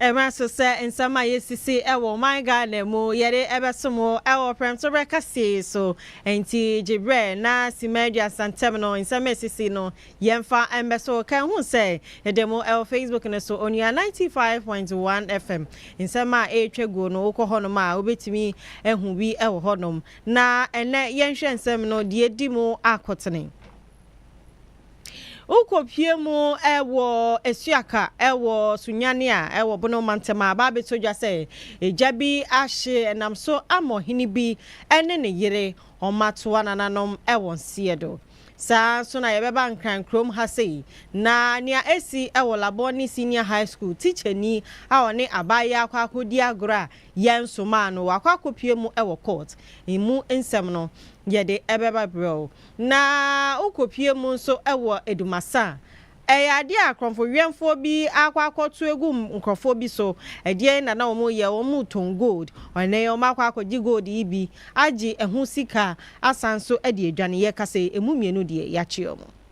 ɛma so sɛ nsɛm a yɛsisi wɔ ɔman ghana mu yɛde ɛbɛso mo wɔ prɛmto berɛ kaseɛ so nti gye berɛ na sima aduasa ntɛm no nsɛm a ɛsisi no yɛmfa mbɛ so ka hu sɛ yɛde mo wɔ facebook no so onua 95.1 fm nsɛm a ɛretwa guo no wokɔ hɔnom a wobɛtumi ahu bi wɔ hɔnom Na ɛnnɛ yɛnhwɛ nsɛm no deɛ edi mu akotene. Wokɔpue mu wɔ Asuaka wɔ Sunyani a ɛwɔ Bono mantam a, aba abɛtɔ dwa sɛ gya bi ahye nam so ama ɔhene bi ne ne yere wɔatoa nananom wɔn seɛ do. Saa ara nso na yɛbɛba Nkran kurom ha sei, na nea asi wɔ Labone Senior High School, tikyani a ɔne abaayewa akɔ akɔdi agorɔ a Yɛn somaa no wakɔ akɔpue mu wɔ court. Emu nsɛm no yɛde bɛba brɛ wo. Na wokɔpue mu nso wɔ Adumasa a, ɛyɛ adeɛ a korɔmfoweɛmfoɔ bi akɔ akɔto agu nkorɔfoɔ bi so. Ɛdeɛn na na wɔreyɛ? Wɔretɔn gold. Ɛnnɛ yi wɔakɔ akɔgye gold yi bi agye ho sika asan nso de adwane. Yɛkasa yi, ɛmu mmienu deɛ, yɛakye wɔn.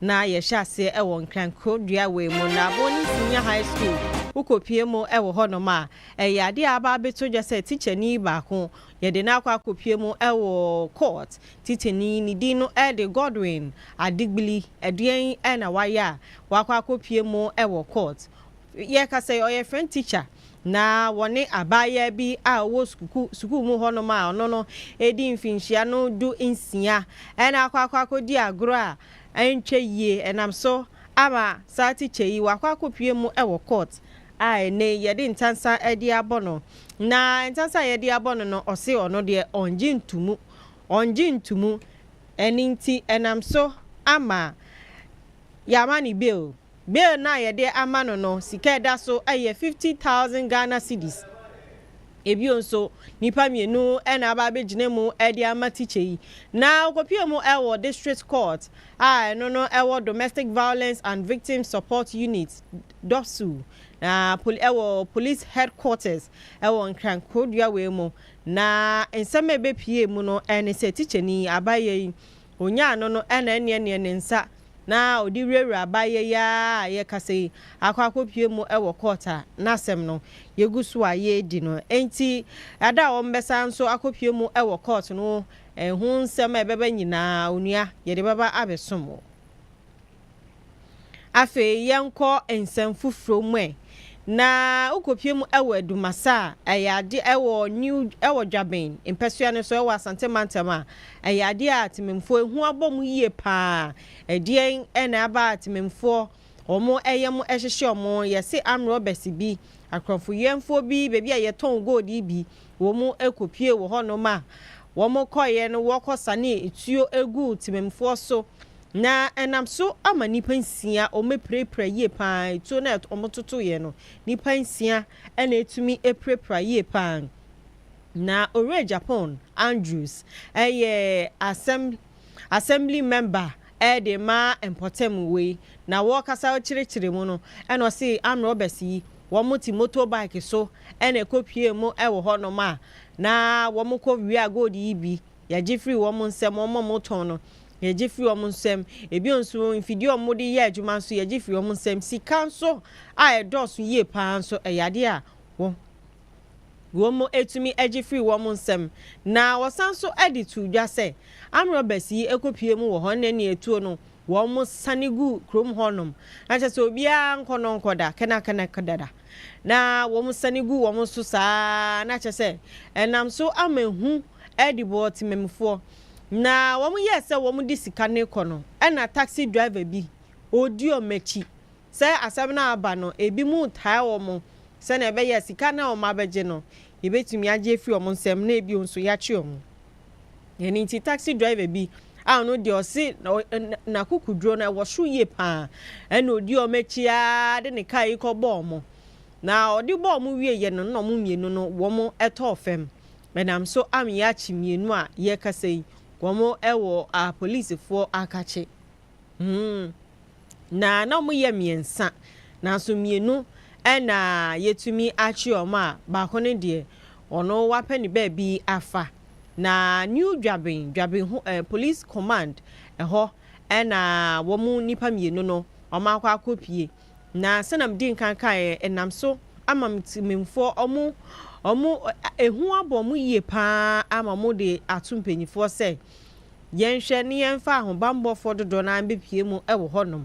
Na yɛhyɛ aseɛ ɛwɔ Nkrankuro dua wei mu na Boni Senior High School wokɔ pie mu ɛwɔ hɔ nom a ɛyɛ adeɛ a aba abɛto dwa sɛ tikyani baako yɛde no akɔ akɔ pie mu ɛwɔ court tikyani ne din no ɛde Godwin Adegbili ɛdeɛn na wayɛ a wakɔ akɔ pie mu ɛwɔ court Yɛreka sɛ ɔyɛ French teacher na wɔne abaayaa bi a ɔwɔ suku sukuu mu hɔnom a ɔno no adi mfinhyia no du nsia na akɔ akɔ akɔdi agorɔ a ɛntwa yie ɛnam so ama saa teacher yi wakɔ akɔpue mu wɔ court a ɛnɛ yi yɛde ntansa de abɔ no na ntansa a yɛde abɔ no no ɔse ɔno deɛ ɔngye ntumu ɔngye ntumu ɛne nti ɛnam so ama yɛama ne bail. Bill no a yɛde ama no no sika a ɛda so yɛ fifty thousand Ghana cedis. Bio nso, nnipa mmienu na aba abɛgyina mu de ama tikya yi, na wɔkɔpuee mu wɔ District Court a ɛno no wɔ Domestic Violence and Victims Support Unit, DOVSU, na pol wɔ Police Headquarters wɔ Nkran Krodua wei mu. Na nsɛm a ɛbɛpuee mu no ne sɛ tikyani yi, Abayɛ yi, Onyaa no no na ɛneɛneɛ ne nsa na ɔde wurawura abaayɛ yi ara a yɛrekasa yi akɔ akɔpue mu wɔ kɔɔt a n'asɛm no yɛgu so a yɛredi no. Enti ɛda a wɔbɛsan nso akɔpue mu wɔ kɔɔt no ho nsɛm a ɛbɛba nyinaa, onua, yɛde bɛba abɛsom wo. Afei yɛnkɔ nsɛm foforɔ mu ɛ. Na wokɔpue mu wɔ Adumase a, ɛyɛ adeɛ ɛwɔ New ɛwɔ Dwaben mpɛsoa no so ɛwɔ Asante mantam a, ɛyɛ adeɛ a Tememfoɔ ehu abɔ mo yie pa ara. Ɛdeɛn na aba a Tememfoɔ wɔn ɛyɛ mo ɛhyehye wɔn? Yɛse arm robbers bi, akorɔmfoyɛmfoɔ bi, baabi a yɛtɔn gold yi bi, wɔn kɔpue wɔ hɔnom a, wɔn kɔeɛ no wɔkɔ sanee tuo guu Tememfoɔ so Na ɛnam so ama nnipa nsia a wɔapirapira yie pa ara, tuo no a wɔtotoeɛ no, nnipa nsia na ɛtumi pirapira yie pa ara. Na Owura Japon Andrews yɛ asɛm Assembly member de rema mpɔtam wei, na wɔrekasa rekyerɛkyerɛ mu no, ɛna ɔse armed robbers yi, wɔte motor bike so na ɛkɔpuee mu wɔ hɔnom a, na wɔkɔ wia gold yi bi Yɛgye firi wɔn nsam, wɔn a wɔtɔn no, yɛgye firi wɔn nsam. Ebio nso, mfidie a wɔde yɛ adwuma nso, yɛgye firi wɔn nsam. Sika nso a ɛdɔɔso yie pa ara nso, ɛyɛ adeɛ a wɔ, wɔtumi gye firi wɔn nsam. Na wɔsan nso de too dwa sɛ, amrɔbas yi kɔpue mu wɔ hɔ, ɛnna nea ɛtuo no, wɔsane gu kurom hɔnom. Na kyerɛ sɛ, obiara nkɔ no nkɔda, kɛnɛkɛnɛkɛdada. na wɔsane gu wɔn so saa ara, na kyerɛ sɛ, ɛnam so ama ehu adi wɔ temammufoɔ, na wɔyɛɛ sɛ wɔde sika no rekɔ no, ɛnna taxi driver bi, ɔdi wɔn akyi. Sɛ asɛm no aba no, ebinom retaa wɔn sɛnea ɛbɛyɛ a sika no a wɔabɛgye no, yɛbɛtumi agye afiri wɔn nsam na ebio nso yɛakye wɔn. Ɛno nti taxi driver bi a ɔno deɛ ɔse n'akokoduro no ɛwɔ so yie paa ɛna ɔdi wɔn akyi ara de ne kaa yi kɔ bɔɔ wɔn na ɔde bɔɔ wɔn wieeɛ no na wɔn mmienu no wɔn ɛtɔɔ fam ɛnam so ameyɛ akye mmienu a yɛkasa yi wɔn ɛwɔ a polisifoɔ akakye hmm. Na na wɔyɛ mmiɛnsa, nanso mmienu na yɛatumi akye wɔn a baako no deɛ, ɔno wapɛ ne baabi afa. Na New Dwaben, Dwaben ho eh, Police Command hɔ na wɔn nnipa mmienu no wɔakɔ akɔpue. Na sɛdeɛ mede nkan kaeɛ, ɛnam so ama me temanmufoɔ wɔn, wɔn, ehu abɔ wɔn yie pa ara ama wɔde ato mpanimfoɔ sɛ Yɛnhwɛ na yɛmfa ahobammɔfoɔ dodoɔ no ara mbɛpue mu wɔ hɔnom.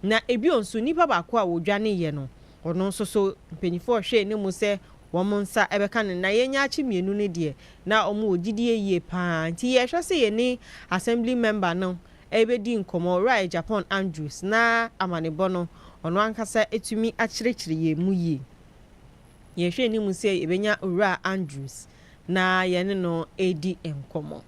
Na ebio nso nnipa baako a wɔdwaneeɛ no, ɔno nso so mpanimfoɔ hwɛɛ no mu sɛ wɔn nsa bɛka no. Na yɛn nyaakye mmienu no deɛ, na wɔn wɔ gyidie yie pa ara. Nti yɛrehwɛ sɛ yɛne Assembly Member no rebɛdi nkɔmmɔ, Owura Agyapong Andrews, na amanebɔ no, ɔno ankasa atumi akyerɛkyerɛ yɛn mu yie. Yɛhwɛɛ no mu sɛ yɛbɛnya Owura Andrews. na yɛne no redi nkɔmmɔ.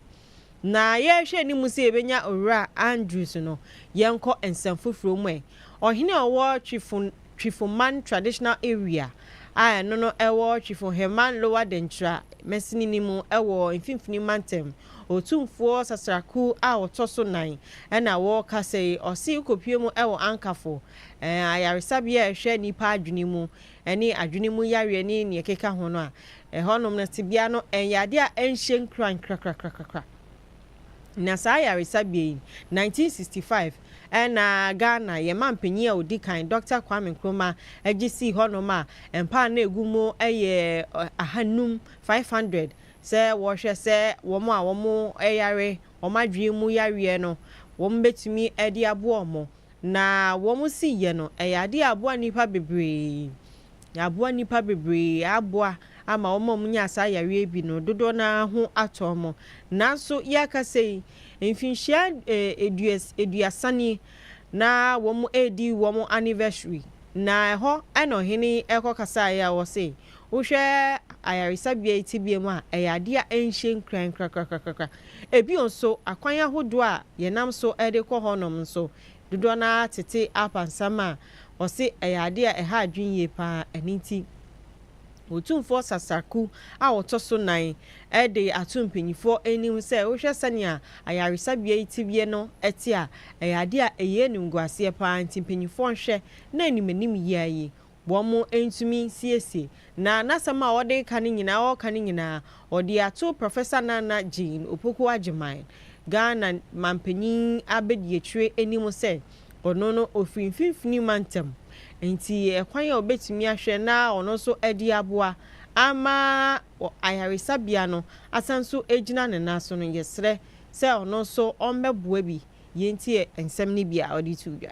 Ná yɛrehwɛ anim sɛ yebenya Owura Andrews no yɛnkɔ nsɛm foforo mu ɛ. Ɔhene a ɔwɔ Twifo Twifoman Traditional Area a ɛno no ɛwɔ Twifoheman Lower Denkyira masinini mu wɔ Mfimfini Mantam, Otumfoɔ Sasraku a ɔtɔ so nan na wɔrekasa yi. Ɔse wokopue mu wɔ Ankafo ayaresabea a ɛhwɛ nnipa adwene mu ne adwene mu yareɛ ne nea ɛkeka ho no a, ɛhɔnom no tebea no ɛnyɛ adeɛ a ɛnhyɛ nkuran krakrakrakra. Na saa ayaresabea yi, 1965 ɛna Ghana yɛn manpanin a ɔdi kan, Dɔkta Kwame Nkrumah gye sii hɔnom a mpa a na ɛgu mu yɛ ahanum, 500, sɛ wɔrehwɛ sɛ wɔn a wɔyare wɔn adwene mu yareɛ no wɔbɛtumi de aboa wɔn. Na wɔn si yɛ no, ɛyɛ adeɛ a aboa nnipa bebree. Aboa nnipa bebree, aboa ama wɔn a wɔnya saa yareɛ bi no, dodoɔ no ara ho atɔ wɔn. Nanso yɛrekasa yi, mfinhyia aduas aduasa nie na wɔredi wɔn anniversary. Na ɛhɔ na ɔhene yi rekɔkasaeɛ a ɔse, Wohwɛ ayaresabea yi tebea mu a, ɛyɛ ade a ɛnhyɛ nkuran korakora. Bio nso, akwan ahodoɔ a yɛnam so de kɔ hɔnom nso, dodoɔ no ara tete apansam a wɔse ɛyɛ ade a ɛha adwene yie pa ara. Ɛno nti, Otumfoɔ Sasaku a ɔtɔ so nnan de ato mpanimfoɔ anim sɛ wohwɛ sɛnea ayaresabea yi tebea no te a, ɛyɛ ade a ɛyɛ animguaseɛ pa ara. Nti mpanimfoɔ nhwɛ na animanimyea yi, Wɔantumi nsiesie. Na n'asɛm a ɔde reka no nyinaa, ɔreka no nyinaa, ɔde ato Professor Nana Jane Opoku Agyemang, Ghana mampanyin abadiakyire anim sɛ ɔno no ɔfiri mfimfini mantam, nti ɛkwan a ɔbɛtumi ahwɛ na ɔno nso de aboa ama ayaresabea no asan nso agyina ne nan so no, yɛsrɛ sɛ ɔno nso ɔmmɛboa bi. Yei nti nsɛm no bi a ɔde to dwa.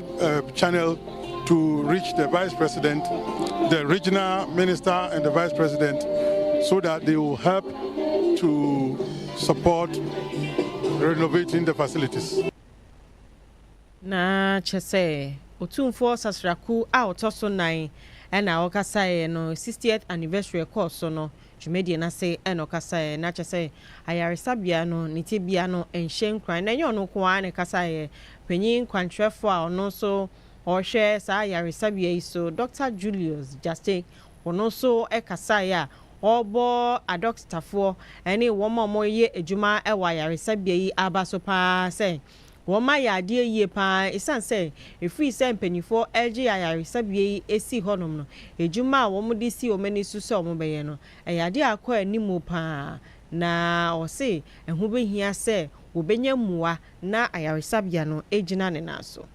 uh, channel to reach the vice president, the regional minister, and the vice president so that they will help to support renovating the facilities. na kyɛ sɛ ɔtumfoɔ sasraku a ɔtɔ so nan ɛna ɔkasaeɛ no 60th anniversary ɛkɔɔ so no Dwumadie no ase na ɔkasaeɛ, na kyerɛ sɛ ayaresabea no ne tebea no nhyɛ nkuran, na ɛnyɛ ɔno nko ara na ɛkasaeɛ. Panin kwankyerɛfoɔ a ɔno nso ɔrehwɛ saa ayaresabea yi so, Dɔkta Julius Gyasey, ɔno nso kasaeɛ a ɔrebɔ adɔktafoɔ ne wɔn a wɔyɛ adwuma wɔ ayaresabea yi aba so pa ara sɛ, Wɔn mma yɛ adeɛ yie pa ara ɛsiane sɛ ɛfiri sɛ mpanimfoɔ regye ayaresabea yi asi hɔnom no, adwuma a wɔde si wɔn ani so sɛ wɔbɛyɛ no, ɛyɛ adeɛ a akɔ anim pa ara, na wɔse ɛho bɛhia sɛ wɔbɛnya mmoa na ayaresabea no agyina ne nan so.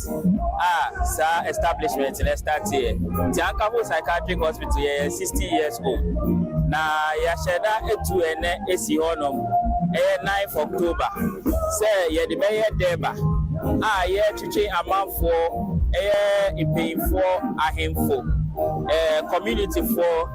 Act a saa establishment no starteɛ nti Ankaho Psychiatric Hospital yɛyɛ sixty years old na yɛahyɛda atu ɛnnɛ asi hɔ nom ɛyɛ ninth October sɛ yɛde bɛyɛ Durbar a yɛretwetwe amanfoɔ ɛyɛ mpanyinfoɔ, ahenfo, ɛɛ community foɔ.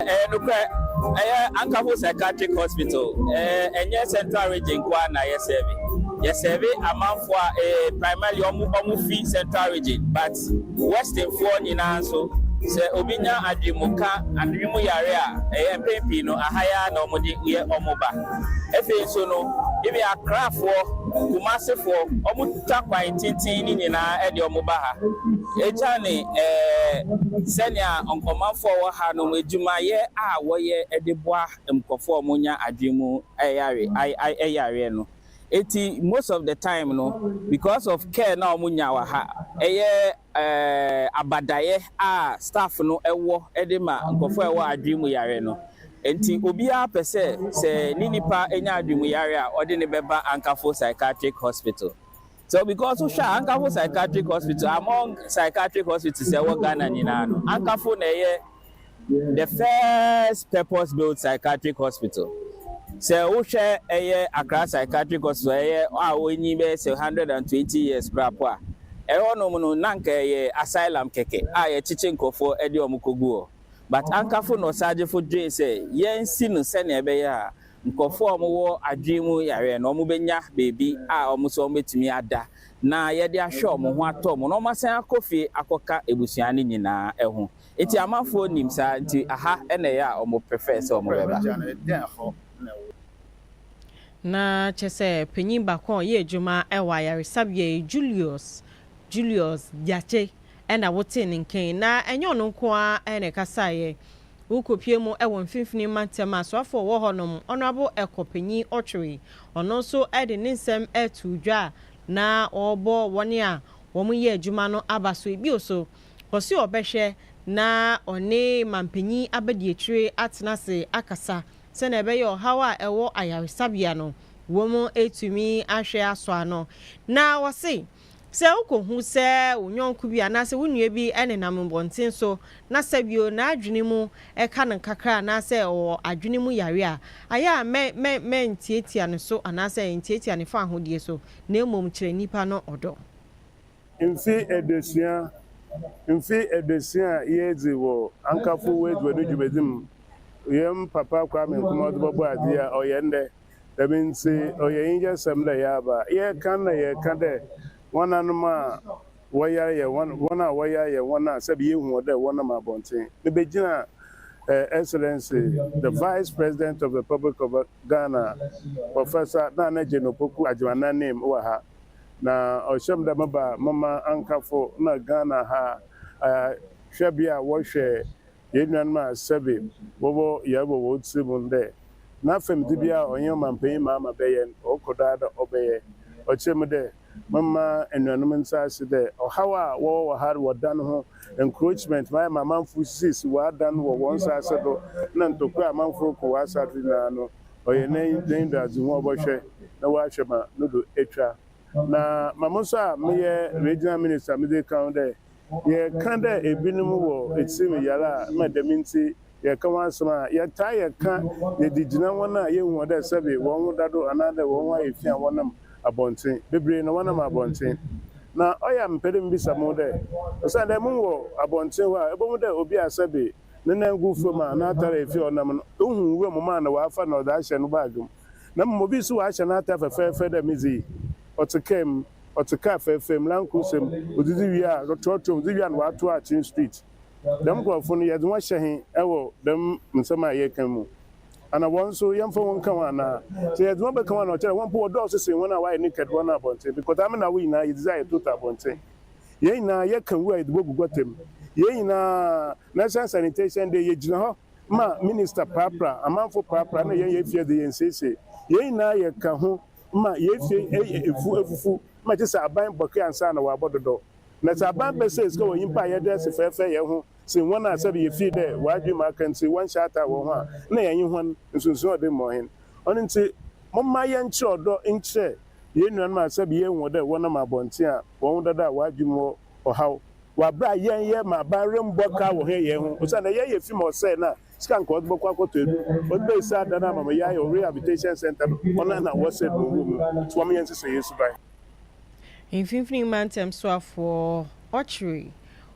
Ɛyɛ nokorɛ, ɛyɛ Ankaho Psychiatric Hospital, ɛnyɛ Central Region nko ara na yɛ sɛɛve, yɛ sɛɛve amanfoɔ a primarily wɔn fi Central Region but Westernfoɔ nyinaa nso sɛ obi nya adwene mu ka, adwene mu yareɛ a ɛyɛ mpɛn pii no aha yi ara na wɔde yɛ wɔn ba. Ɛfei nso no even Akrafoɔ, Kumasefoɔ, wɔtwa kwan tenten no nyinaa de wɔn ba ha. Esiane sɛnea nkɔmanfo a wɔwɔ ha no adwumayɛ a wɔyɛ de boa nkurɔfo a wɔnya adwene mu yare yareɛ no nti, most of the time no, because of care no a wɔnya wɔ ha, ɛyɛ abadaeɛ a staff no wɔ de ma nkurɔfo a wɔwɔ adwene mu yareɛ no nti, obiara pɛ sɛ sɛ ne nipa nya adwene mu yareɛ a, wɔde no bɛba Ankafoɔ Psychiatric Hospital. So because wohwɛ a Ankafo Psychiatric Hospital among psychiatric hospitals a ɛwɔ Ghana nyinaa no Ankafo na ɛyɛ the first purpose built psychiatric hospital. Sɛ wohwɛ ɛyɛ Accra Psychiatric Hospital ɛyɛ a wɔnyi bɛyɛ sɛ 120 years koraa po a, ɛhɔ nom no na anka ɛyɛ asylum kɛkɛ a yɛkyekye nkurɔfoɔ de wɔn kɔgu hɔ. But Ankafo nɔsagyefo dwee sɛ yɛnsi no sɛnea ɛbɛyɛ a Nkurɔfoɔ a wɔwɔ adwene mu yareɛ no, wɔbɛnya baabi a wɔn nso wɔbɛtumi ada, na yɛde ahwɛ wɔn ho atɔ wɔn, na wɔasan akɔ fie akɔka abusua no nyinaa ho. Enti amanfoɔ nim saa, enti ha na ɛyɛ a wɔprefɛɛ sɛ wɔbɛba. Ná kyerɛ sɛ panin baako a ɔyɛ adwuma wɔ ayaresabea yi, Julius, Julius Gyakye, na wotee ne nka yi. Ná ɛnyɛ ɔno nko ara na ɛkasaeɛ. Wokɔpuee mu wɔ Mfimfini Mantam a soafoɔ wɔ hɔnom, Honourable Ɛkɔpanyin Otwiri. Ɔno nso de ne nsɛm too dwa a na ɔrebɔ wɔn a wɔyɛ adwuma no abaso yi bio so. Ɔse ɔbɛhwɛ na ɔne Manpanyin Abadiakyire atena ase akasa sɛdeɛ ɛbɛyɛ ɔhaw a ɛwɔ ayaresabea no, wɔatumi ahwɛ asɔ ano. Na ɔse. Sɛ wukohu sɛ wo yɔnko bi anaasɛ wo nua bi nenam mmɔnten so na sɛ bio n'adwene mu ka no kakra anaasɛ ɔwɔ adwene mu yare a, ayɛ a mɛ mɛ mɛ ntiatia ne so anaasɛ ntiatia ne fawohodie so na mmom kyerɛ nipa no ɔdɔ. Mfe eduosia Mfe eduosia a yeedzi wɔ Ankafoɔ W'edziban Dwumadzi mu, hɛn Papa Kwame Nkrumah ɔdze bɔbɔɔ adze yi a ɔyɛ ndɛ. Dɛm ntsi, ɔyɛ enyigyarsɛm dɛ yɛaba. Yɛreka no na yɛreka dɛ woananom a wɔyar yɛ hɔn, hɔn a wɔyar yɛ hɔn a sɛbe yehu hɔn dɛ wɔnam abɔntsen. Mibegyina Her Excellency the Vice President of Republic of Ghana, Professor Nana Jane Opoku Agyemang n'enyim wɔ ha, na ɔhyɛ me dɛ meba mema ankafo na Ghana ha hwɛbea a wɔhwɛ Yɛn nuanom a sɛbe wɔwɔ yar wɔ hɔn tsir mu no dɛ, na fɛmdzi biara a ɔnye ɔmampanyin Mahama bɛyɛ no, ɔkɔ do ara dɛ ɔbɛyɛ. Ɔkyerɛ mu dɛ, Momma enuanom ntse ase dɛ ɔhaw a wɔwɔ wɔ har wɔ dan ho encroachment ma ayɛ ma amamfo risisi wɔ adan wɔ hɔn nsaase do na ntokwa a amamfo roko wɔ asaase do nyina no, ɔyɛ n'enyido-adzehu a ɔbɔhwɛ na ɔahwɛ ma no do etwa. Na ma mo so a meyɛ Regional Minister medze kã ho dɛ, Yɛka dɛ binom wɔ tsirmu yar a ma dɛm ntsi yɛka ho asɛm a, yɛtaa yɛ ka yɛdze gyina hɔn a yehu hɔn dɛ sɛbe hɔnho da do anaadɛ hɔnho ayɛ fi a wɔnam abɔntsen. Beberee na wɔnam abɔntsen. Na ɔyɛ a mepɛ dɛ mibisa moho dɛ, osiandɛ moho wɔ abɔntsen hɔ a, ebohu dɛ obi a sɛbe ne nan gu famu a n'atar a efi a ɔnam no, ohu nwura mu ma na ɔafa na ɔdze ahyɛ no baage mu. na mbom obi so ɔahyɛ n'atar fɛfɛɛfɛ dɛ medze yi, ɔtse kaar mu, ɔtse kaar fɛɛfɛɛ mu, Land Cruiser mu, odzidzi wie a, rotɔɔtɔɔ mu, dze wie a na ɔatow akyen street. Dɛm nkorɔfo no, yɛdze hɔn hyɛ hen wɔ dɛm nsɛm a yɛrekã mu? Ana hɔn so, yɛmmfa hɔn nnkã ho anaa? Sɛ yɛdze hɔn bɛkã ho a, nna ɔkyerɛ dɛ hɔn mpo wɔdɔɔ so sen hɔn a wɔayɛ naked hɔn no abɔntsen. Bcɔtaa me na wo nyina, yedzidzi a yɛtoto abɔntsen. Hɛn nyina, yɛkã wu a yɛdze bogu gɔta mu. Hɛn nyina, National Sanitation Day, yegyina hɔ. ma minister prapra, amanfo prapra na yɛn yɛn fie dze yɛn siesie. Yɛn nyinaa yɛ ka ho ma yɛn fie yɛ efu efufu ma kyesɛ aban bɔke ansa na wɔabɔ dodɔ. Na sɛ aban bɛsɛɛ sika wɔ nyimpa a yɛda ase fɛɛfɛɛ yɛn ho sen hɔn a sɛbe yefii dɛ wɔadwen mu aka ntsi wɔnnhyɛ ataa wɔ ho a nna yɛnye hɔn nsunsuan ɔdze mbɔ hen. Ɔno ntsi momma yɛnkyerɛ ɔdɔ nkyerɛ yɛn nuanom a sɛbe yehu dɛ wɔnam abɔntsen a wɔnwo dada a wɔadwen mu wɔ ɔhaw wɔ aber a yɛn yɛ ma aban rommbɔ kar wɔ hɛn yɛn ho osiandɛ yɛn yɛ fi ma ɔsɛɛ na sika nka wɔdze bɔkɔ akɔtɔ edur. Wɔdze besi adan a Mamayayo Rehabilitation Centre no hɔn a nna wɔsɛɛ no wɔ mu no so wɔnyɛ nhyehyɛɛ suban. Mfinimfini Mantam Soafoɔ Ɔkyere,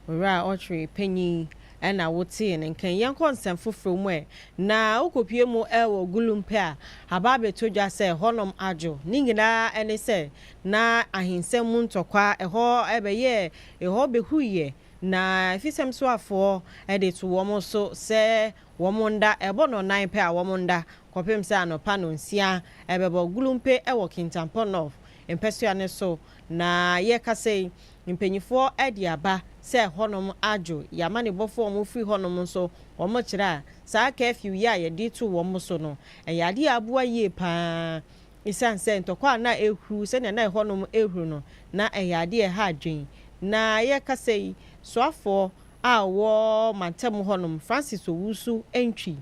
Owura Ɔkyere Panyin na wo tee ne nka yi. Yɛnkɔ nsɛm foforɔ mu ɛ na wo kɔ pue mu ɛwɔ Gulumpe a aba abɛtɔ dwa sɛ hɔnom adwo. Ne nyinaa ɛne sɛ na ahensɛm mu ntɔkwa, ɛhɔ bɛyɛɛ, ɛhɔ behuiɛ, na Fisemsuafoɔ de to wɔn so sɛ wɔn nda, ɛbɔ nnɔnan pɛ a wɔn nda, kɔpem sɛ anɔpa nnɔnsia ɛbɛbɔ gulumpe wɔ Kintampo North mpɛsoa no so, na yɛrekasa yi, mpaninfoɔ de aba sɛ hɔnom adwo, y'amanebɔfoɔ a wɔn firi hɔnom nso, wɔn kyerɛ a, saa curfew yi a yɛde to wɔn so no, ɛyɛ adeɛ a aboa yie pa ara. Esiane sɛ ntɔkwa a na ɛrehuruw sɛnea na ɛhɔnom rehuruw no, na ɛyɛ ade a ɛha adwene. Ná yɛrekasa yi, soafoɔ a ɔwɔ mantam hɔnom, Francis Owusu Antwi,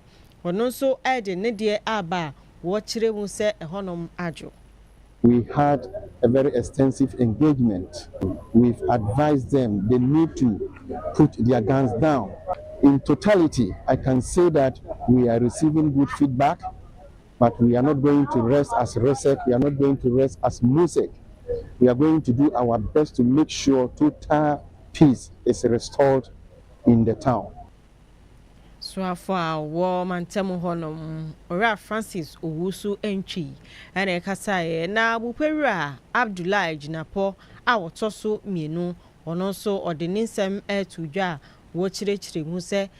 ɔno nso de ne deɛ reba a, wɔkyerɛ mu sɛ ɛhɔnom adwo. We had a very extensive engagement, we've advised them they need to put their guns down. In totality, I can say that we are receiving good feedback. but we are not going to rest as resek we are not going to rest as musek we are going to do our best to make sure total peace is restored in the town. Soafo a ɔwɔ mantam hɔ nom, Owura Francis Owusu Antwi na ɛkasaeɛ na Abupewura Abdullahi Gyinapɔ a ɔtɔ so mmienu, ɔno nso ɔde ne nsɛm ɛɛtoo dwa a wɔkyerɛkyerɛ mu sɛ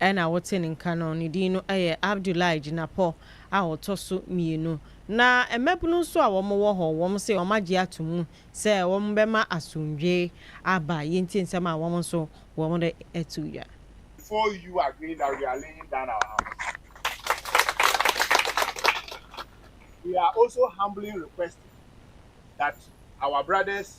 Ɛna wɔte ne nka no, ne din no yɛ Abdullahi Jinapɔ a ɔtɔ so mmienu. Na mmabunu nso a wɔwɔ hɔ, wɔn se wɔagye ato mu sɛ wɔbɛma asomdwoe aba, yei nti nsɛm a wɔn nso wɔde to dwa. Before you agree that we are laying down our arms, we are also humbly requesting that our brothers,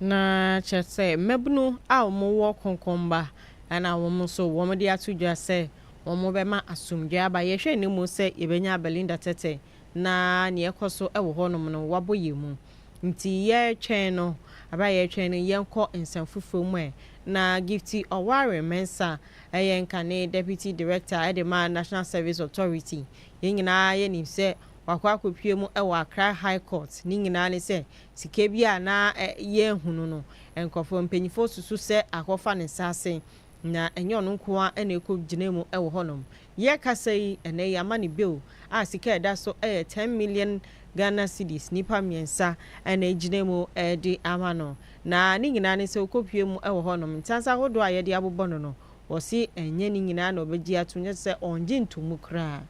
Na kyerɛ sɛ, mmabunu a wɔwɔ Konkomba na wɔn nso wɔde ato dwa sɛ wɔbɛma asomdwoeɛ aba. Yɛhwɛ anim sɛ yɛbɛnya Belinda Tetteh na deɛ ɛrekɔ so wɔ hɔnom no wabɔ yɛn mu. Nti yɛretwɛn no, berɛ a yɛretwɛn no yɛnkɔ nsɛm foforɔ mu ɛ. Na Gifty Ɔware Mensah yɛ nkane Deputy Director de ma National Service Authority. Yɛn nyinaa yɛnim sɛ wakɔ akɔpue mu wɔ Accra High Court, ne nyinaa ne sɛ sika bi a na yɛnhunu no, nkurɔfoɔ mpaninfoɔ susu sɛ akɔfa ne nsa ase, na ɛnyɛ ɔno nko ara na ɛkɔ gyinaa mu wɔ hɔ nom. Yɛrekasa yi, ɛnnɛ yi ama no bail a sika a ɛda so yɛ ten million Ghana cedis, nnipa mmiɛnsa na ɛgyinaa mu de ama no, na ne nyinaa ne sɛ ɔkɔpue mu wɔ hɔ nom, ntansa ahodoɔ a yɛde abobɔ no no, Wɔse ɛnyɛ ne nyinaa na ɔbɛgye atom, na sɛ ɔngye nto mu koraa.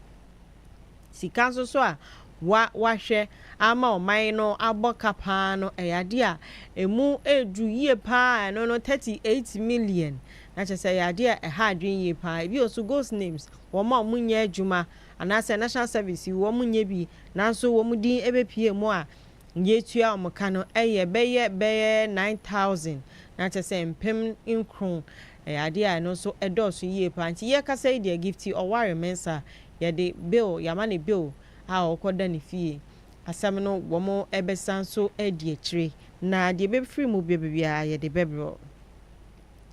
Sika nso so a wa wahwɛ ama ɔman no abɔ ka paa no, ɛyɛ adeɛ a ɛmu ɛreduru yie paa a, ɛno no thirty eight million, na kyerɛ sɛ ɛyɛ adeɛ a ɛha adwene yie paa. Ebio nso ghost names, wɔn a wɔnyɛ adwuma, anaasɛ national service wɔnyɛ bi, nanso wɔn din ɛbɛpue mu a, Deɛ ɛtua wɔn ka no yɛ bɛyɛ bɛyɛ nine thousand, na kyerɛ sɛ mpem nkron. Ɛyɛ adeɛ a ɛno nso ɛdɔɔso yie pa ara. Nti yɛkasa yi deɛ Gifty Ɔware-Mensah, yɛde bill, yɛama no bill a ɔrekɔda ne fie. Asɛm no wɔbɛsan nso adi akyire, na deɛ ɛbɛfiri mu bɛba biara yɛde bɛbrɛ wo.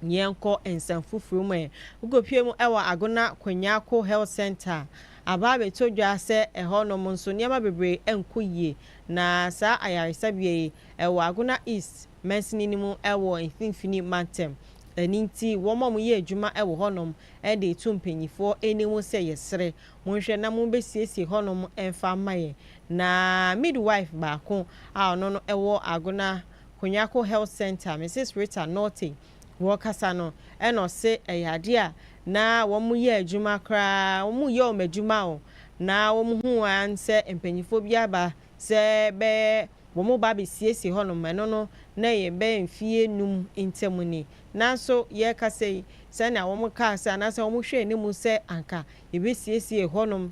Yɛnkɔ nsɛm foforɔ mu ɛ. Wokɔpue mu wɔ Agona Kwenyako Health Centre. Aba abɛtɔ dwa sɛ ɛhɔnom nso nneɛma bebree nkɔ yie, na saa ayaresabea yi, ɛwɔ Agona East mansini no mu wɔ Mfimfini Mantam. Ɛno nti, wɔn a wɔyɛ adwuma wɔ hɔnom de reto mpanimfoɔ anim sɛ yɛsrɛ, monhwɛ na mobɛsiesie hɔnom mfa mma yɛn. Na midwife baako a ɔno no wɔ Agona Konyako Health Centre, Mrs. Rita Nortey, ɔrekasa no, ɛna ɔse ɛyɛ adeɛ a na wɔn yɛ adwuma koraa wɔn yɛ wɔn adwuma o na wɔn hu an sɛ mpanyinfoɔ bi aba sɛ bɛ wɔn ba bɛ siesie hɔ nom ɛno no na yɛ bɛ mfie num ntɛm ni nanso yɛ kasa yi sɛnea wɔn kaa sɛ anaasɛ wɔn hwɛ anim sɛ anka yɛ bɛ siesie hɔ nom.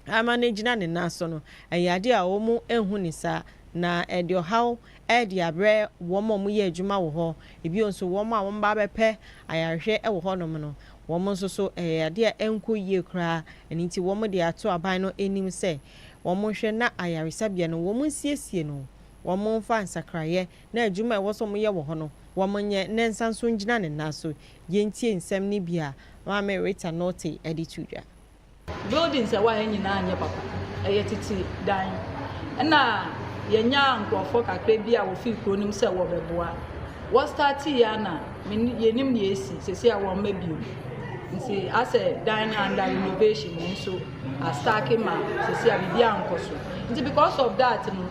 ama no agyina ne nan so no, ɛyɛ ade a wɔnhu no saa, na ɛde ɔhaw de abrɛ wɔn a wɔyɛ adwuma wɔ hɔ. Bio nso, wɔn a wɔba abɛpɛ ayarehwɛ wɔ hɔnom no, wɔn nso so, ɛyɛ ade a ɛnkɔ yie koraa. Ɛno nti, wɔde ato aban no anim sɛ wɔnhwɛ na ayaresabea no, wɔnsiesie no, wɔmfa nsakraeɛ na adwuma a ɛwɔ sɛ wɔyɛ wɔ hɔ no, wɔnyɛ na ɛnsan nso ngyina ne nan so. Yɛntie nsɛm no bi a Maame Rita Nortey de to dwa. Buildings a ɛwɔ ha yi nyinaa nyɛ papa. Ɛyɛ tete dan. Ɛna yɛnyaa nkurɔfoɔ kakra bi a wɔfiri kuro no mu sɛ wɔbɛboa. Wɔ starteeɛ ara na meni yɛnim deɛ asi. Seesei a wɔmma bio. Nti asɛ dan no under renovation, yɛn nso astake ma seesei a biribiara nkɔ so. Nti because of that no,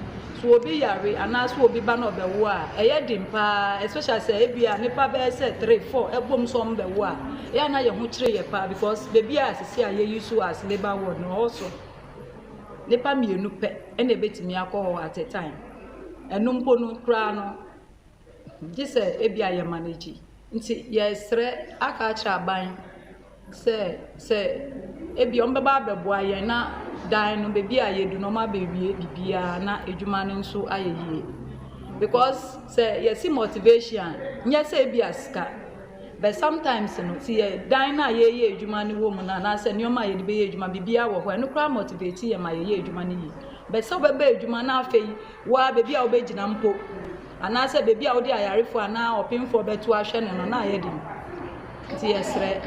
So obi yare anaasɛ obi ba na ɔbɛwo a, ɛyɛ den paa, especially sɛ ebia nnipa bɛyɛ sɛ three, four ɛbom sɛ wɔn bɛwo a, ɛyɛ a na yɛn ho kyere yɛn paa because baabi a sisi a yɛyi so as labour ward no ɛhɔ so nnipa mmienu pɛ na ebetumi akɔ hɔ at a time, ɛno mpo no koraa no. gye sɛ ebia yɛ manage. Nti yɛsrɛ aka akyerɛ aban sɛ sɛ ebia ɔmo bɛba abɛboa yɛn na dan no beebi a yɛdu no ɔmo abɛwie biribiaa na adwuma no nso ayɛ yie. Bikɔs sɛ yɛse mɔtivehyin a nyɛ sɛ ebia sika bɛt samtaems no te yɛ dan no a yɛɛyɛ adwuma no wɔ mu no anaa sɛ nnoɔma a yɛde bɛyɛ adwuma biribiaa wɔ hɔ a ɛno koraa mɔtiveti yɛn ma yɛyɛ adwuma no yie. Bɛt sɛ wobɛba adwuma na afei. Wo ara baabi a wobɛgyina mpo anaasɛ baabi a wode ayarefoɔ anaa ɔpemfoɔ bɛto ahwɛ no no na ayɛ den. Nti yɛsrɛ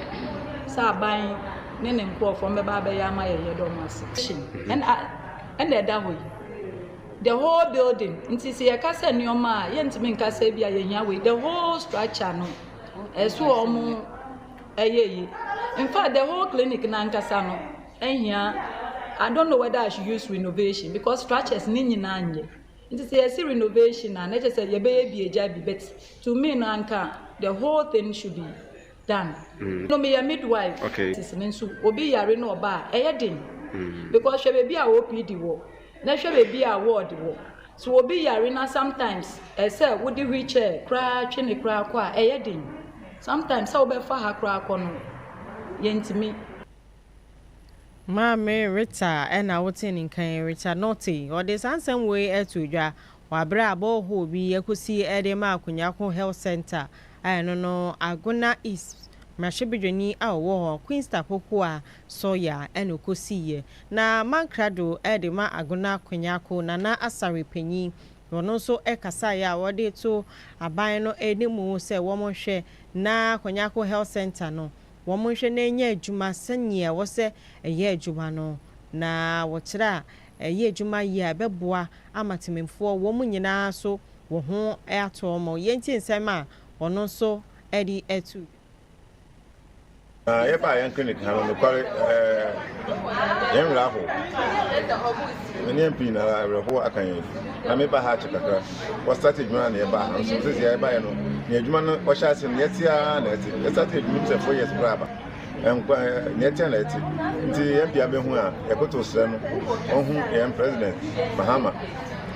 sɛ aban ne ne nkurɔfoɔ mbɛba abɛyɛ ama yɛn yɛda ɔmo ase. Ɛna ɛna ɛda hɔ yi. The whole building. Nti sɛ yɛka sɛ nneɛma a yɛntumi nka sɛ bi a yɛhia wei. The whole structure no ɛso ɔmo ɛyɛ yi. In fact the whole clinic no ankasa no Ɛhia, I don't know whether I should use renovation because structures ne nyinaa nyɛ. Nti sɛ yɛse renovation a, na ɛkyɛ sɛ yɛbɛyɛ bi agya bi but to me no anka the whole thing should be done. Mm. No meyɛ midwife. Okay. Sisi no nso obi yare na ɔba a ɛyɛ den. Mm. Because hwɛ baabi a OPD wɔ na hwɛ baabi a ward wɔ. So obi yare na sometimes ɛsɛ wode wheelchair koraa twe ne koraa kɔ a ɛyɛ den. Sometimes sɛ wobɛfa ha koraa kɔ no yɛntumi. Maame Rita na wotee ne nka yi. Rita Norte, ɔde saa nsɛm wei too dwa wɔ bere a borehole bi akosi de ma Akunyako Health Centre a ɛno no Agona East mmarahyɛbedwani a ɔwɔ hɔ, Queens Tapokoa Sawyer na okosiiɛ. Na Mark Krado de ma Agona Akunyako Nana Asare panyin na ɔno nso kasaeɛ a ɔde to aban no anim sɛ wɔnhwɛ na Akunyako Health Centre no wɔnhwɛ na ɛnyɛ adwuma sɛdeɛ ɛwɔ sɛ ɛyɛ adwuma no, na wɔkyerɛ a ɛyɛ adwuma yie a ɛbɛboa ama temanmufoɔ wɔn nyina ara nso wɔ ho ato wɔn. Yɛntie nsɛm a ɔno nso de to dwa. Na yɛba yɛn clinic ha no nokware ɛɛ yɛn werɛ ahow Nneɛma pii na awerɛhow aka yɛn. Na meba ha akyɛ kakra. Wɔ start adwuma na yɛbaa ha. Nso sɛsi a yɛbaeɛ no, nea adwuma no wɔhyɛ ase no, yɛte ara na ɛte. Yɛ start adwuma mu sɛ four years koraa aba. Nkwa nea ɛte na ɛte. Nti yɛn pia bɛhu a, yɛkoto srɛ no ɔnhu yɛn President Mahama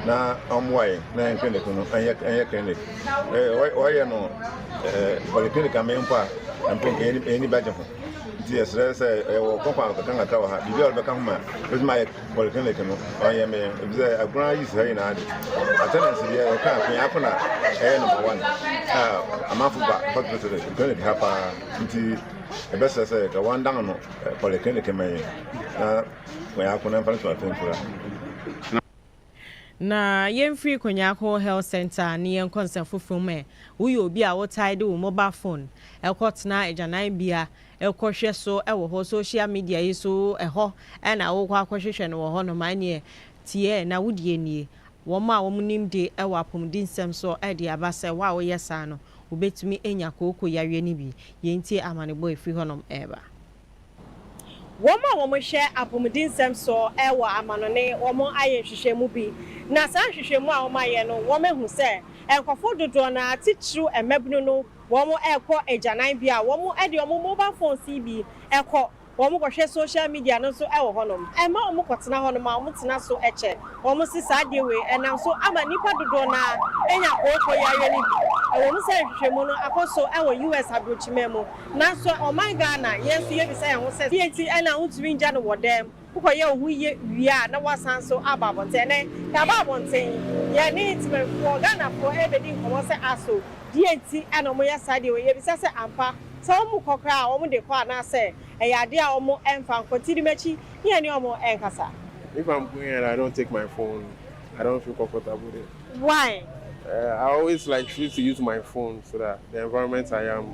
na ɔmmoa yɛn na yɛn clinic no ɛnyɛ ɛnyɛ clinic. Ɛɛ wɔyɛ no ɛɛ polyclinic amee mpo a mpo yɛn yɛn ani bɛgye ho. Nti yɛsrɛ sɛ ɛwɔ kɔnkɔn kakra kakra wɔ ha. Biribi a wɔbɛka ho ma ɛbɛtumi ayɛ Polyclinic no ɔnyɛ me yɛn ebisɛ agorɔ ayi saa nyinaa de attendance deɛ ɔka akwen ako na ɛyɛ number one a amanfo ba hospital clinic ha paa nti ɛbɛsɛ sɛ ka wɔn dan no polyclinic ma yɛn na wɔn ako na mfa no so atɛnfura. Na yɛmfiri Konyako Health Centre ne yɛnkɔ nsɛm foforɔ mu ɛ, Woyɛ obi a wotae de wo mobile phone kɔtena agyananbea kɔ hwɛ so wɔ hɔ social media yi so ɛhɔ na wokɔ akɔ hwehwɛ no wɔ hɔ nom ɛneɛ tiɛ na wo deɛ nie wɔn a wɔn nim de wɔ apɔmuden nsɛm so de aba sɛ wo a wo yɛ saa no wo bɛtumi anya kooko yareɛ no bi yɛ ntie amanebɔ ɛfiri hɔ nom ɛba. Wɔn a wɔn hwɛ apɔmuden nsɛm so wɔ amanɔne wɔn ayɛ nhwehwɛmu bi na saa nhwehwɛmu a wɔn ayɛ no wɔn ahu sɛ nkorɔfoɔ dodoɔ no ara titiriw mmabunu no Wɔrekɔ agyananbea a, wɔde wɔn mobal fons yi bi kɔ. Wɔkɔhwɛ sohyal media no nso wɔ hɔnom. Ɛmma wɔkɔtena hɔnom a, wɔtena so kyɛ. Wɔse saa adeɛ wei nam so ama nnipa dodoɔ no ara anya kooko yareɛ no bi. Ɛwom sɛ nhwehwɛmu no akɔ so wɔ US aburokyiman mu, nanso ɔman Ghana, yɛn nso yɛbisa yɛn ho sɛ, deɛn nti na wontumi ngya no wɔ dan mu? Wokɔyɛ wo ho yiye wie a na woasan nso aba abɔnten. Ɛnnɛ, yɛaba abɔnten. Yɛne Temanfoɔ, Ghanafoɔ, rebɛdi nkɔmmɔ sɛ aso deɛ nti na wɔyɛ saa deɛ wei. Yɛbisa sɛ ampa sɛ wɔkɔ koraa a wɔde kɔ anaasɛ ɛyɛ adeɛ a wɔmfa nkɔ. Ti di m'akyi ne yɛne wɔn nkasa. If I'm going and I don't take my phone, I don't feel comfortable there. Why? I always like choose to use my phone so that the environment I am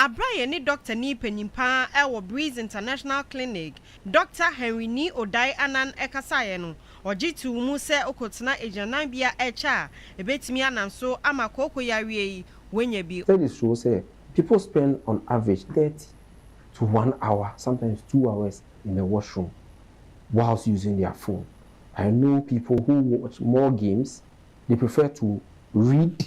Bere a yɛne dɔktani panyin pa ara wɔ Breeze International Clinic, Dɔkta Henry Nii Odai Annan kasaeɛ no, ɔgye too mu sɛ wokɔtena agyinananbea a ɛkyɛ a, ɛbɛtumi ananso ama kooko yareɛ yi woanya bi. Studies show sɛ people spend on average thirty to one hour, sometimes two hours in the washroom whilst using their phone. I know people who watch more games, they prefer to read.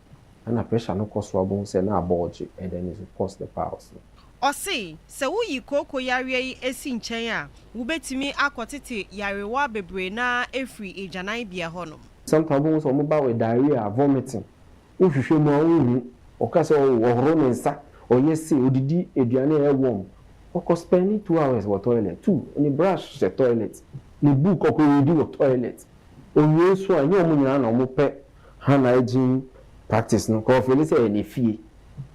Ɛna pressure no kɔ so a wobɛhu sɛ na abɔɔgye and then it will cause the piles no. Ɔse sɛ woyi kooko yareɛ yi si nkyɛn a, wobɛtumi akɔtete yarewa bebree no ara afiri agyananbea hɔnom. Sometimes wobɛhu sɛ wɔba with diarrhoea, vomiting, wohwehwɛ mu a wonhu, ɔka sɛ oh ɔhoro ne nsa, ɔyɛ sei, ɔdidi aduane a ɛyɛ warm, ɔkɔ spend two hours wɔ toilet, two, ne brush hyɛ toilet, ne book ɔkɔ readi wɔ toilet, ɔwie nso a ɛnyɛ wɔn nyinaa na wɔpɛ Hannah gym practice no nka ɔfeeli sɛ ɛyɛ ne fie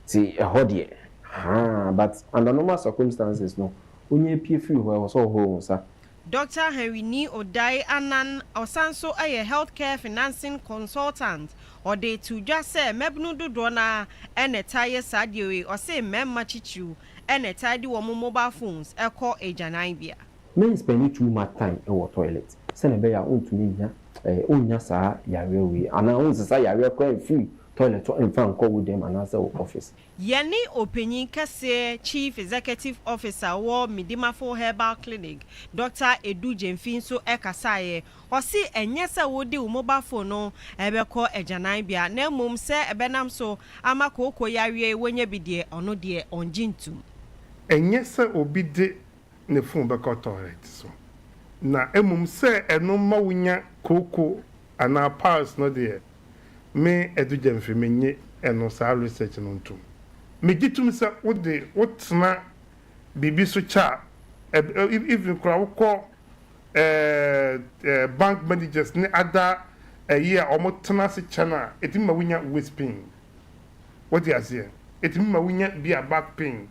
nti ɛhɔ deɛ haa but under normal circumstances no onyaa pue firi hɔ ɛwɔ sɛ ɔhohoro wo nsa. Dɔkta Henryni Odai Annan ɔsan nso yɛ Health Care Financing Consultant, ɔde too dwa sɛ mmabunu dodoɔ no ara na ɛtaa yɛ saa adeɛ wei, ɔse mmarima titiriw na ɛtaa de wɔn mobile phones kɔ agyananbea. Men spend too much time wɔ toilet sɛnea ɛbɛyɛ a wontumi nnya. ɛɛ wonnya saa yareɛ wei anaa wonsesa yareɛ koraa mfiri toilet hɔ mfa nkɔ wo dɛm anaasɛ wo office. Yɛne Ɔpanyin Kɛseɛ, Chief Executive Officer, wɔ Midimafo Herbal Clinic, Dɔkta Edu Gyamfi nso kasaeɛ. Ɔse ɛnyɛ sɛ wode wo mobile phone no bɛkɔ agyananbea na mmom sɛ ɛbɛnam so ama kooko yareɛ yi woanya bi deɛ, ɔno deɛ ɔngye ntom. Ɛnyɛ sɛ obi de ne fon bɛkɔ tɔlɛt so, na mmom sɛ ɛno mma wunya kooko anaa piles no deɛ, me Adu Gyamfi minnye ɛno saa research no ntom. Megye tom sɛ wo de wotena biribi so kyɛ a, ɛb even koraa wokɔ ɛɛ bank managers ne ada ɛyi a wɔn tena ase kyɛ no a, ɛtumi ma wunya waist pain. Wate aseɛ? Ɛtumi ma wunya bi a back pain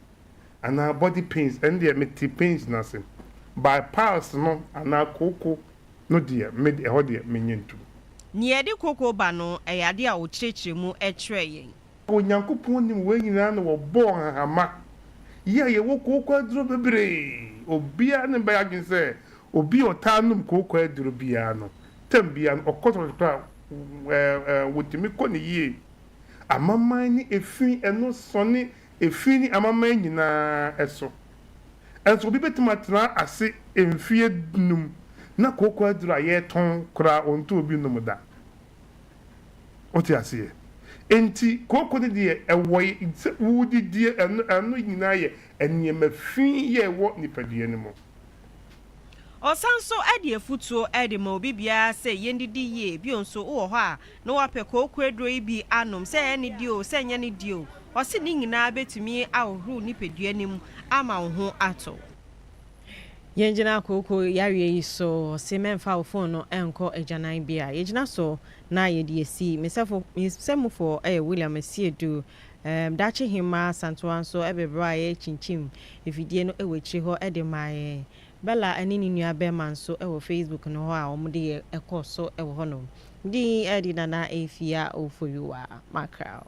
anaa body pains ɛno deɛ me te pains no ase but piles no anaa kooko no deɛ me de ɛhɔ deɛ me nyɛ ntom. Nea ɛde kooko ba no, ɛyɛ ade a ɔkyerɛkyerɛ mu kyerɛɛ yɛn. Onyankopɔn nim wei nyinaa na ɔbɔɔ nhahama yi a yɛwɔ kooko aduro bebree. Obiara ne bɛyɛ adwene sɛ obi a ɔtaa nom kooko aduro biara no tam biara no ɔkɔ tɔlɛt kora a ɛɛ ɛɛ wɔtumi kɔ no yie. Amaman ne efi ɛno sɔne Efi ne amanaman nyinaa so. Nanso obi betumi atena ase mfeɛ dunum na kooko aduru a yɛtɔn koraa ɔntɔɔ bi nnom da. Wote aseɛ? Enti kooko no deɛ ɛwɔ sɛ wodidie, ɛno nyinaa yɛ nneɛma fi yɛ ɛwɔ nipadua no mu. Ɔsan nso de afutuo de ma obi biara sɛ yɛndidi yie, bio nso wowɔ hɔ a na wapɛ kooko aduro yi bi anom, sɛ ɛyɛ ne deɛ o, sɛ ɛnyɛ ne deɛ o, ɔse ne nyinaa bɛtumi ahohoro wo nipadua no mu ama wo ho atɔ wo. Yɛngyina kooko yareɛ yi so, ɔse mɛmfa wo fon no nkɔ agyananbea, yɛgyina so na yɛde asi, me sɛfoɔ, me sɛmufoɔ yɛ William Asiedu. Erm Daakye Hemmaa Asantewaa nso bere bere a yɛrekyinkyim afidie no wɔ akyire hɔ de ma yɛn. Bella ne ne nua bɛrima nso wɔ Facebook no hɔ a wɔn de yɛ kɔ so wɔ hɔ nom. Me din de Nana Afia Ofoyuwa Mackerel.